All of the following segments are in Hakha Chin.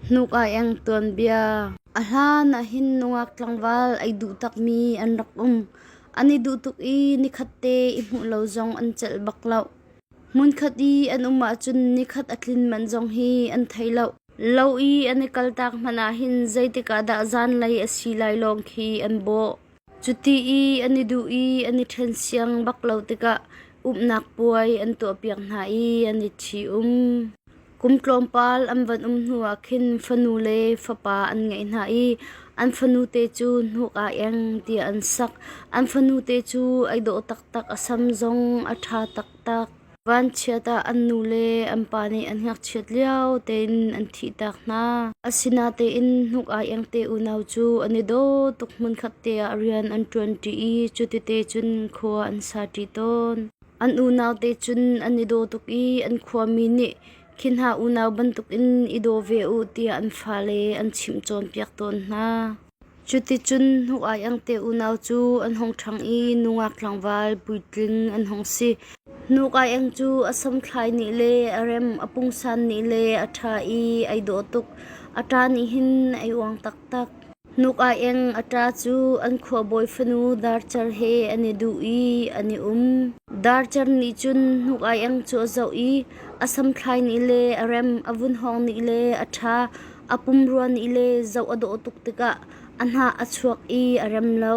Hnuk ah eng tuanbia. A hlan ah hin nungak tlangval ai duh takmi an rak um. An i duh tuk i nikhatte i hmuh lo zong an celh bak loh. Hmunkhat i an um ahcun nikhat a tlin manh zong hi an thei loh. Lo i an i kaltak hmanh ah hin zeitik ah dah zanlei a si lai lawng khi an bawh. Cuti i an i duh i an i ṭhen siang bak lo tikah umnak puai an tuahpiak hna i an i ṭhi-um. Kum tlawmpal an van um hnuah khin fanu le fapa an ngeih hna i an fanute cu hnuk ah eng tiah an sak. An fanute cu ai dawh taktak a sam zong a ṭha taktak. Vanchiat ah an nule an pa nih an ngakchiat lio tein an thihtak hna. Asinatein hnuk ai engte unau cu an i daw tuk hmunkhat te ah rian an ṭuanṭi i cutite cun khua an saṭi tawn. An unaute cun an i daw tuk i an khuami nih khi hna unau bantukin i daw ve u tiah an fale an chimh cawnpiak tawn hna. Cuticun hnuk-aiangte unau cu an hung ṭhang i nungak tlangval puitling an hung si. Hnuk-aiang cu a samthlai nih le a rem a pungsan nih le a ṭha i ai dawh tuk. A ṭa nih hin ai uang taktak. Hnuk-aiang a ṭa cu an khuabawi fanu Darcer he an i duh i an i um. Darcer nih cun hnuk-aiang cu a zoh i a samthlai nih le a rem a vun hawng nih le a ṭha. A pumrua nih le zoh a dawh tuk tikah a hnah a chuak i a rem lo.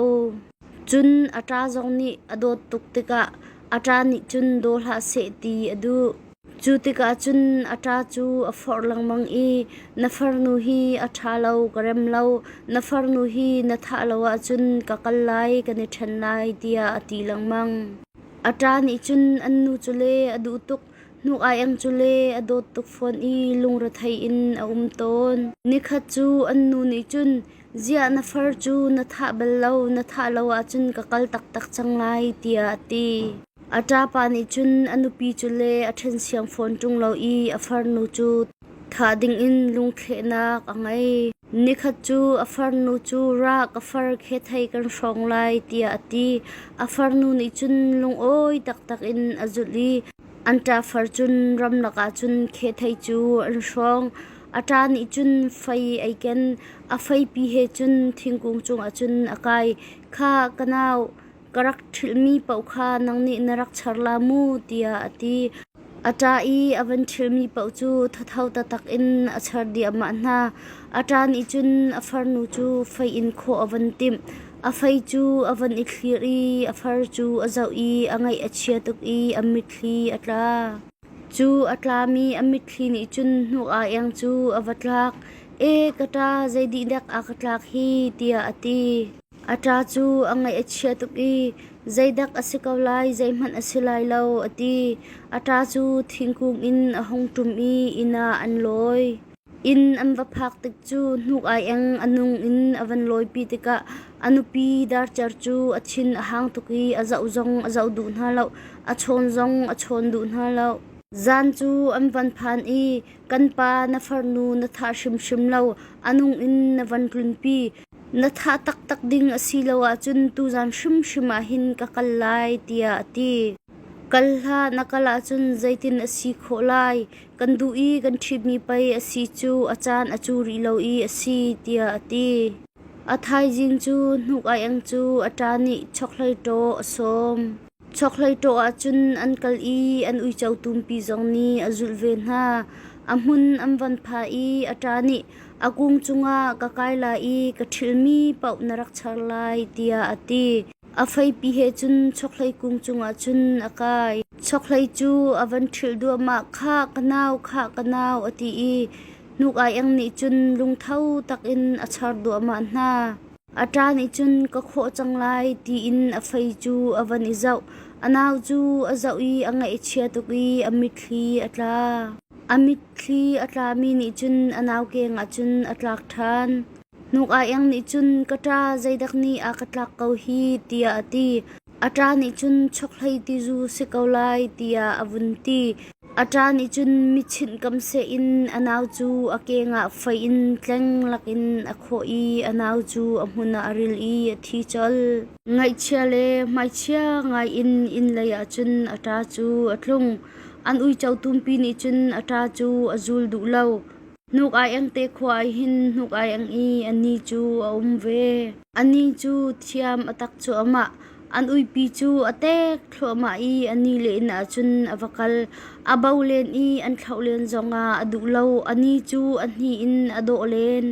Cun a ṭa zong nih a dawt tuk tikah a ṭa nih cun daw hlah seh ti a duh. Cu tikah cun a ṭa cu a forh lengmang i na farnu hi a ṭha lo ka rem lo, na farnu hi na thah lo ahcun ka kal lai kan i ṭhen lai tiah a ti lengmang. A ṭa nih cun an nu cu le a duh tuk. Hnuk aieng cu le a dawt tuk fawn i lungrethei in a um tawn. Nikhat cu an nu nih cun, “Ziah na far cu na thah bal lo, na thah lo ahcun ka kal taktak cang lai,” tiah a ti. A ṭapa nih cun a nupi cu le a ṭhen siang fawn ṭung lo i a farnu cu Thah dingin lungthlehnak a ngei. Nikhat cu a farnu cu rah ka far khi thei kan hrawng lai tiah a ti. A farnu nih cun lungawi taktak in a zulh i an ṭa far cun ramlak ah cun khi thei cu an hrawng. A ṭa nih cun fei ei ken, a feipi he cun thingkung cungah cun a kai. Khah, ka nau, ka rak ṭhilhmi paoh kha nang nih na rak char la mu tiah a ti. A ṭa i a van ṭhilhmi paoh cu thatho taktak in a char diahmah hna. A ṭa nih cun a farnu cu fei in khawh a van timh. A fei cu a van i thlir i a far cu a zoh i a ngaih a chia tuk i a mitthli a tla. Cu a tlami a mitthli nih cun hnu-a-iang cu a va tlak. E, ka ṭa, zeidih dek a ka tlak hi tiah a ti. A ṭa cu a ngaih a chia tuk i zeidak a si ko lai, zeihmanh a si lai lo, a ti. A ṭa cu thingkung in a hung ṭum i inn ah an lawi. Inn an va phak tik cu hnuk aieng a nung in a van lawipi tikah a nupi darcer cu a thin a hang tuk i a zoh zong a zoh duh hna lo, a chawn zong a chawn duh hna lo. Zan cu an van phan i, Kan pa na farnu na thah hrimhrim lo, a nung in na van tlunpi. Na thah taktak ding a si lo ahcun tuzan hrimhrim ah hin ka kal lai tiah a ti. Kal hlah na kal ahcun zeitin a si khawh lai? Kan duh i kan ṭhitmi pei a si cu a caan a cu rih lo i a si tiah a ti. A thaizing cu hnuk aeng cu a ṭa nih chokhlei ṭaw a sawm. Chokhlei ṭawh ahcun an kal i an uico tumpi zong nih a zulh ve hna. A hmun an van phah i a ṭa nih a kung cungah ka kai lai i ka ṭhilmi paoh na rak char lai tiah a ti. A feipi he cun chokhlei kung cungah cun a kai. Chokhlei cu a van ṭhilh duahmah khah ka nau khah ka nau a ti i hnuk aiang nih cun lungtho takin a char duahmah hna. A ṭa nih cun ka khawh cang lai tiin a fei cu a van i zoh. A nau cu a zoh i a ngaihchia tuk i a mitthli a tla. A mitthli a tlami nih cun a nau kengah cun a tlak ṭhan. Hnuk aiang nih cun ka ṭa zeidak nih a ka tlak ko hi tiah a ti. A ṭa nih cun chokhlei tizu si ko lai tiah a vun ti. A ṭa nih cun michinh kam seh in a nau cu a kengah fei in tleng lakin a khawh i a nau cu a hmun ah a ril i a thi colh. Ngaihchia le hmaichia ngaiin inn leiah cun a ṭa cu a tlung. An uico tumpi nih cun a ṭa cu a zul duh lo. Hnuk-aieng te khua ah hin hnuk-aieng i a ni cu a um ve. A ni cu thiam a tak cuahmah. An uipi cu a tek thluahmah i a ni len ahcun a va kal. A bo len i an thlauh len zongah a duh lo. A ni cu a hnih in a dawh len.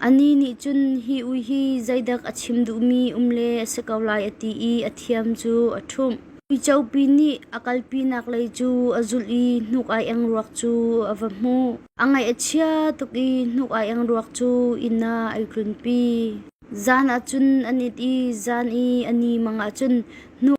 A ni nih cun hi ui hi zeidak a chim duhmi um le a si ko lai a ti i a thiam cu a ṭhumh. Uicopi nih a kalpinak lei cu a zulh i hnuk-aieng ruak cu a va hmuh. A ngaih a chia tuk i hnuk ai eng ruak cu inn ah ai tlunpi. Zan ah cun an it i zan i a ni mang ah cun hnuk